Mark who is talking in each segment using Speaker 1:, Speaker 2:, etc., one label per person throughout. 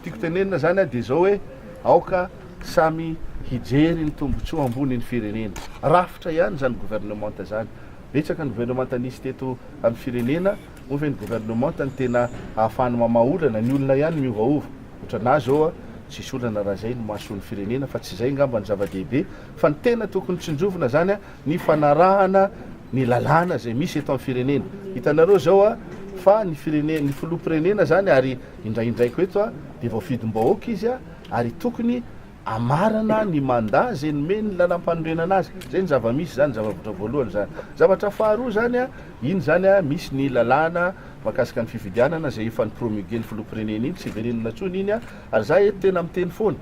Speaker 1: Tiako tenenina zany dia zao hoe aoka samy hijery ny tombotsoa ambony ny firenena. Rafitra ihany zany gouvernementa zany. Betsaka ny gouvernementa nisy teto amin'ny firenena, moa ve ny gouvernementa no tena ahafahany mamaha olana? Ny olona ihany miovaova. Otranà zao a, tsisy olana raha zay no mahasoa ny firenena fa tsy zay ngamba no zava-dehibe fa ny tena tokony tsinjovina zany a ny fanarahana ny lalàna izay misy eto amin'ny firenena. Hitanareo izao a, fa ny firene, ny filoham-pirenena izany ary indraindraiko eto a, dia voafidim-bahoaka izy a, ary tokony hamarana ny mandat izay nomen'ny lalàmpanorenana azy. Izay ny zava-misy izany, zava-bitra voalohany izany. Zavatra faharoa izany a, iny izany a, misy ny lalàna mahakasika ny fifidianana izay efa ni-promulguer ny filoham-pirenena iny, tsy verenina intsony iny a, ary za eto tena miteny foana,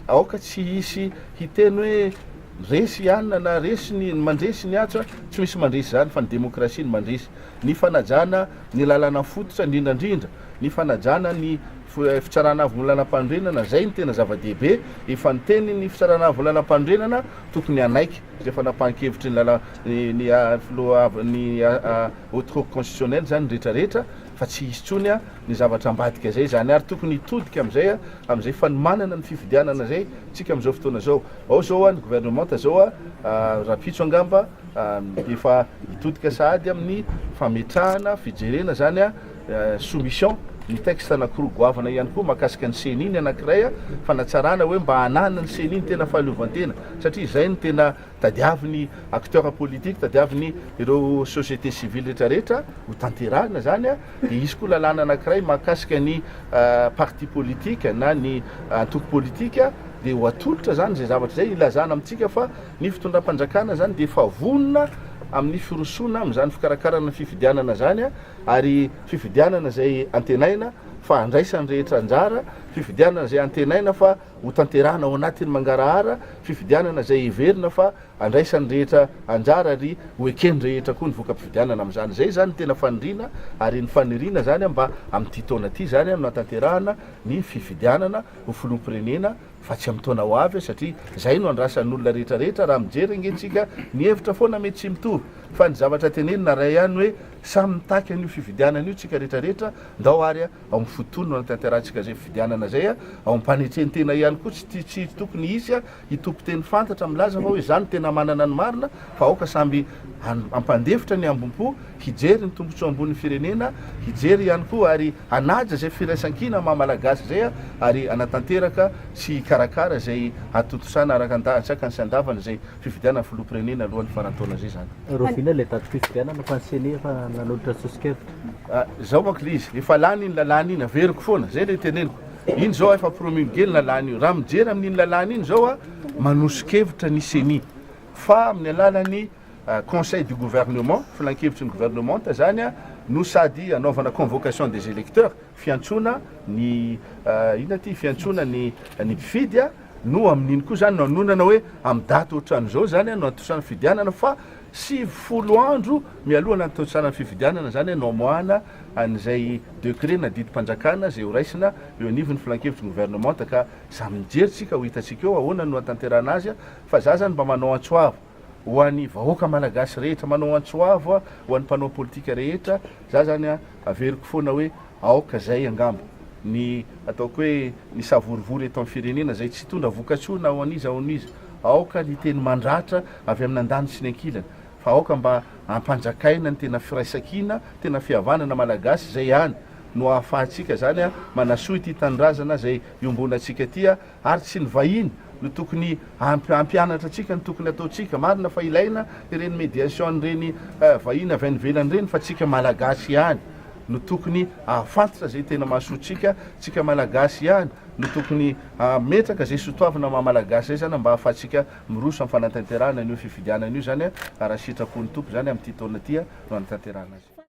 Speaker 1: aoka tsy hisy hiteny hoe, Resy i Anna na resy ny mandresy ny atsy a! Tsy misy mandresy izany fa ny demokrasia no mandresy. Ny fanajana ny lalàna fototra indrindra indrindra, ny fanajana ny Fitsarana Avon'ny Lalampanorenana, izay no tena zava-dehibe. Efa niteny ny Fitsarana Avon'ny Lalampanorenana, tokony hanaiky izay fanapahan-kevitry ny ny filoha avy ny Haute Cour Constitutionnelle izany ny rehetra rehetra. fa tsy hisy intsony ny zavatra ambadika zay zany ary tokony hitodika amizay amizay fanomanana ny fifidianana zay tsika amizao fotoana zao ao zao ny gouvernementa zao rapitso angamba efa hitodika sahady aminy fametrahana fijerena zany soumission ny texte anakoroa goavana ihany koa makasika ny ceni ny anakiray fanatsarana oe mba hanana ny ceni ny tena fahaleovantena satria zay ny tena Tadiavo ny acteurs politiques, tadiavo ny ireo société civile rehetra rehetra ho tanterahina izany a, dia hisy koa lalàna anankiray mahakasika ny parti politique na ny antoko politika, dia ho atolotra izany izay zavatra izay hilazana amintsika fa ny fitondram-panjakana izany dia efa vonona amin'ny firosoana amin'izany fikarakarana ny fifidianana izany a, ary fifidianana izay antenaina fa handraisan'ny rehetra anjara, fifidianana izay antenaina fa. Hotanterahina ao anatin'ny mangarahara fifidianana izay heverina fa handraisan'ny rehetra anjara ary ho eken'ny rehetra koa ny voka-pifidianana amin'izany. Izay izany no tena faniriana ary ny faniriana izany mba amin'ity taona ity izany no hanatanterahana ny fifidianana ho filoham-pirenena fa tsy amin'ny taona ho avy satria izay no andrasan'olona rehetrarehetra raha mijery ange isika ny hevitra foana mety tsy mitovy fa ny zavatra tenenina iray ihany hoe samy mitaky an'io fifidianana io isika rehetrarehetra ndao ary ao amin'ny fotoana hanatanterantsika izay fifidianana izay, ao am-panetren-tena ihany koa, tsy tsy tokony hisy hitopy teny fantatra milaza fa hoe izaho no tena manana ny marina fa aoka samby hampandefitra ny hambom-po, hijery ny tombotsoa ambonin'ny firenena, hijery ihany koa ary hanaja izay firaisan-kina maha Malagasy izay ary hanatanteraka sy hikarakara izay hatontosana araka ny dahatsakany sy andavany izay. fifidianana filoham-pirenena alohan'ny faran'ny taona izay izany. Rahoviana ilay datim-pifidianana
Speaker 2: fa ny ceni efa nanolotra soso-kevitra? Ah, izao manko ilay izy,
Speaker 1: efa lany iny lalàna iny, averiko foana, izay ilay teneniko. Iny izao efa promulgué ny lalàna io. Raha mijery amin'iny lalàna iny izao a, manoso-kevitra ny ceni fa amin'ny alalan'ny ah, conseil du gouvernement, filankevitry ny governemanta izany a, no sady anaovana convocation des électeurs, fiantsoana ny ah, inona ity, fiantsoana ny ny mpifidy a, no amin'iny koa izany no anondrana hoe amin'ny daty ohatran'izao izany no antosaran'ny fifidianana fa sivy folo andro mialoha ny antosaran'ny fifidianana izany no amoahana an'izay décret na didim-panjakana izay horaisina eo anivon'ny filankevitry ny gouvernementa ka samy mijery tsika ho hitantsika eo ahoana no hatanterahana azy fa za zany mba manao antso avo ho an'ny vahoaka malagasy rehetra, manao antso avo aho ho an'ny mpanao politika rehetra, za zany averiko foana hoe aoka zay angamba ny ataoko hoe ny savorovoro eto amin'ny firenena zay tsy hitondra vokatsoa na ho an'iza ho an'iza, aoka ny teny mandratra avy amin'ny andaniny sy ny ankilany fa aoka mba ampanjakaina ny tena firaisankina, tena fihavanana malagasy, zay ihany no ahafahantsika zany manasoa ity tanindrazana zay iombonantsika ity. ary tsy ny vahiny no tokony hampianatra antsika ny tokony ataontsika, marina fa ilaina ireny mediation ireny vahiny avy any ivelany ireny fa tsika malagasy ihany no tokony ahafantatra izay tena mahasoa tsika, tsika malagasy ihany no tokony hametraka izay sotoavina maha malagasy izay zany mba ahafahantsika miroso amin'ny fanatanterahana an'io fifidianana io zany raha sitrapon'ny Tompo izany amin'ity taona ity no hanatanterahana azy.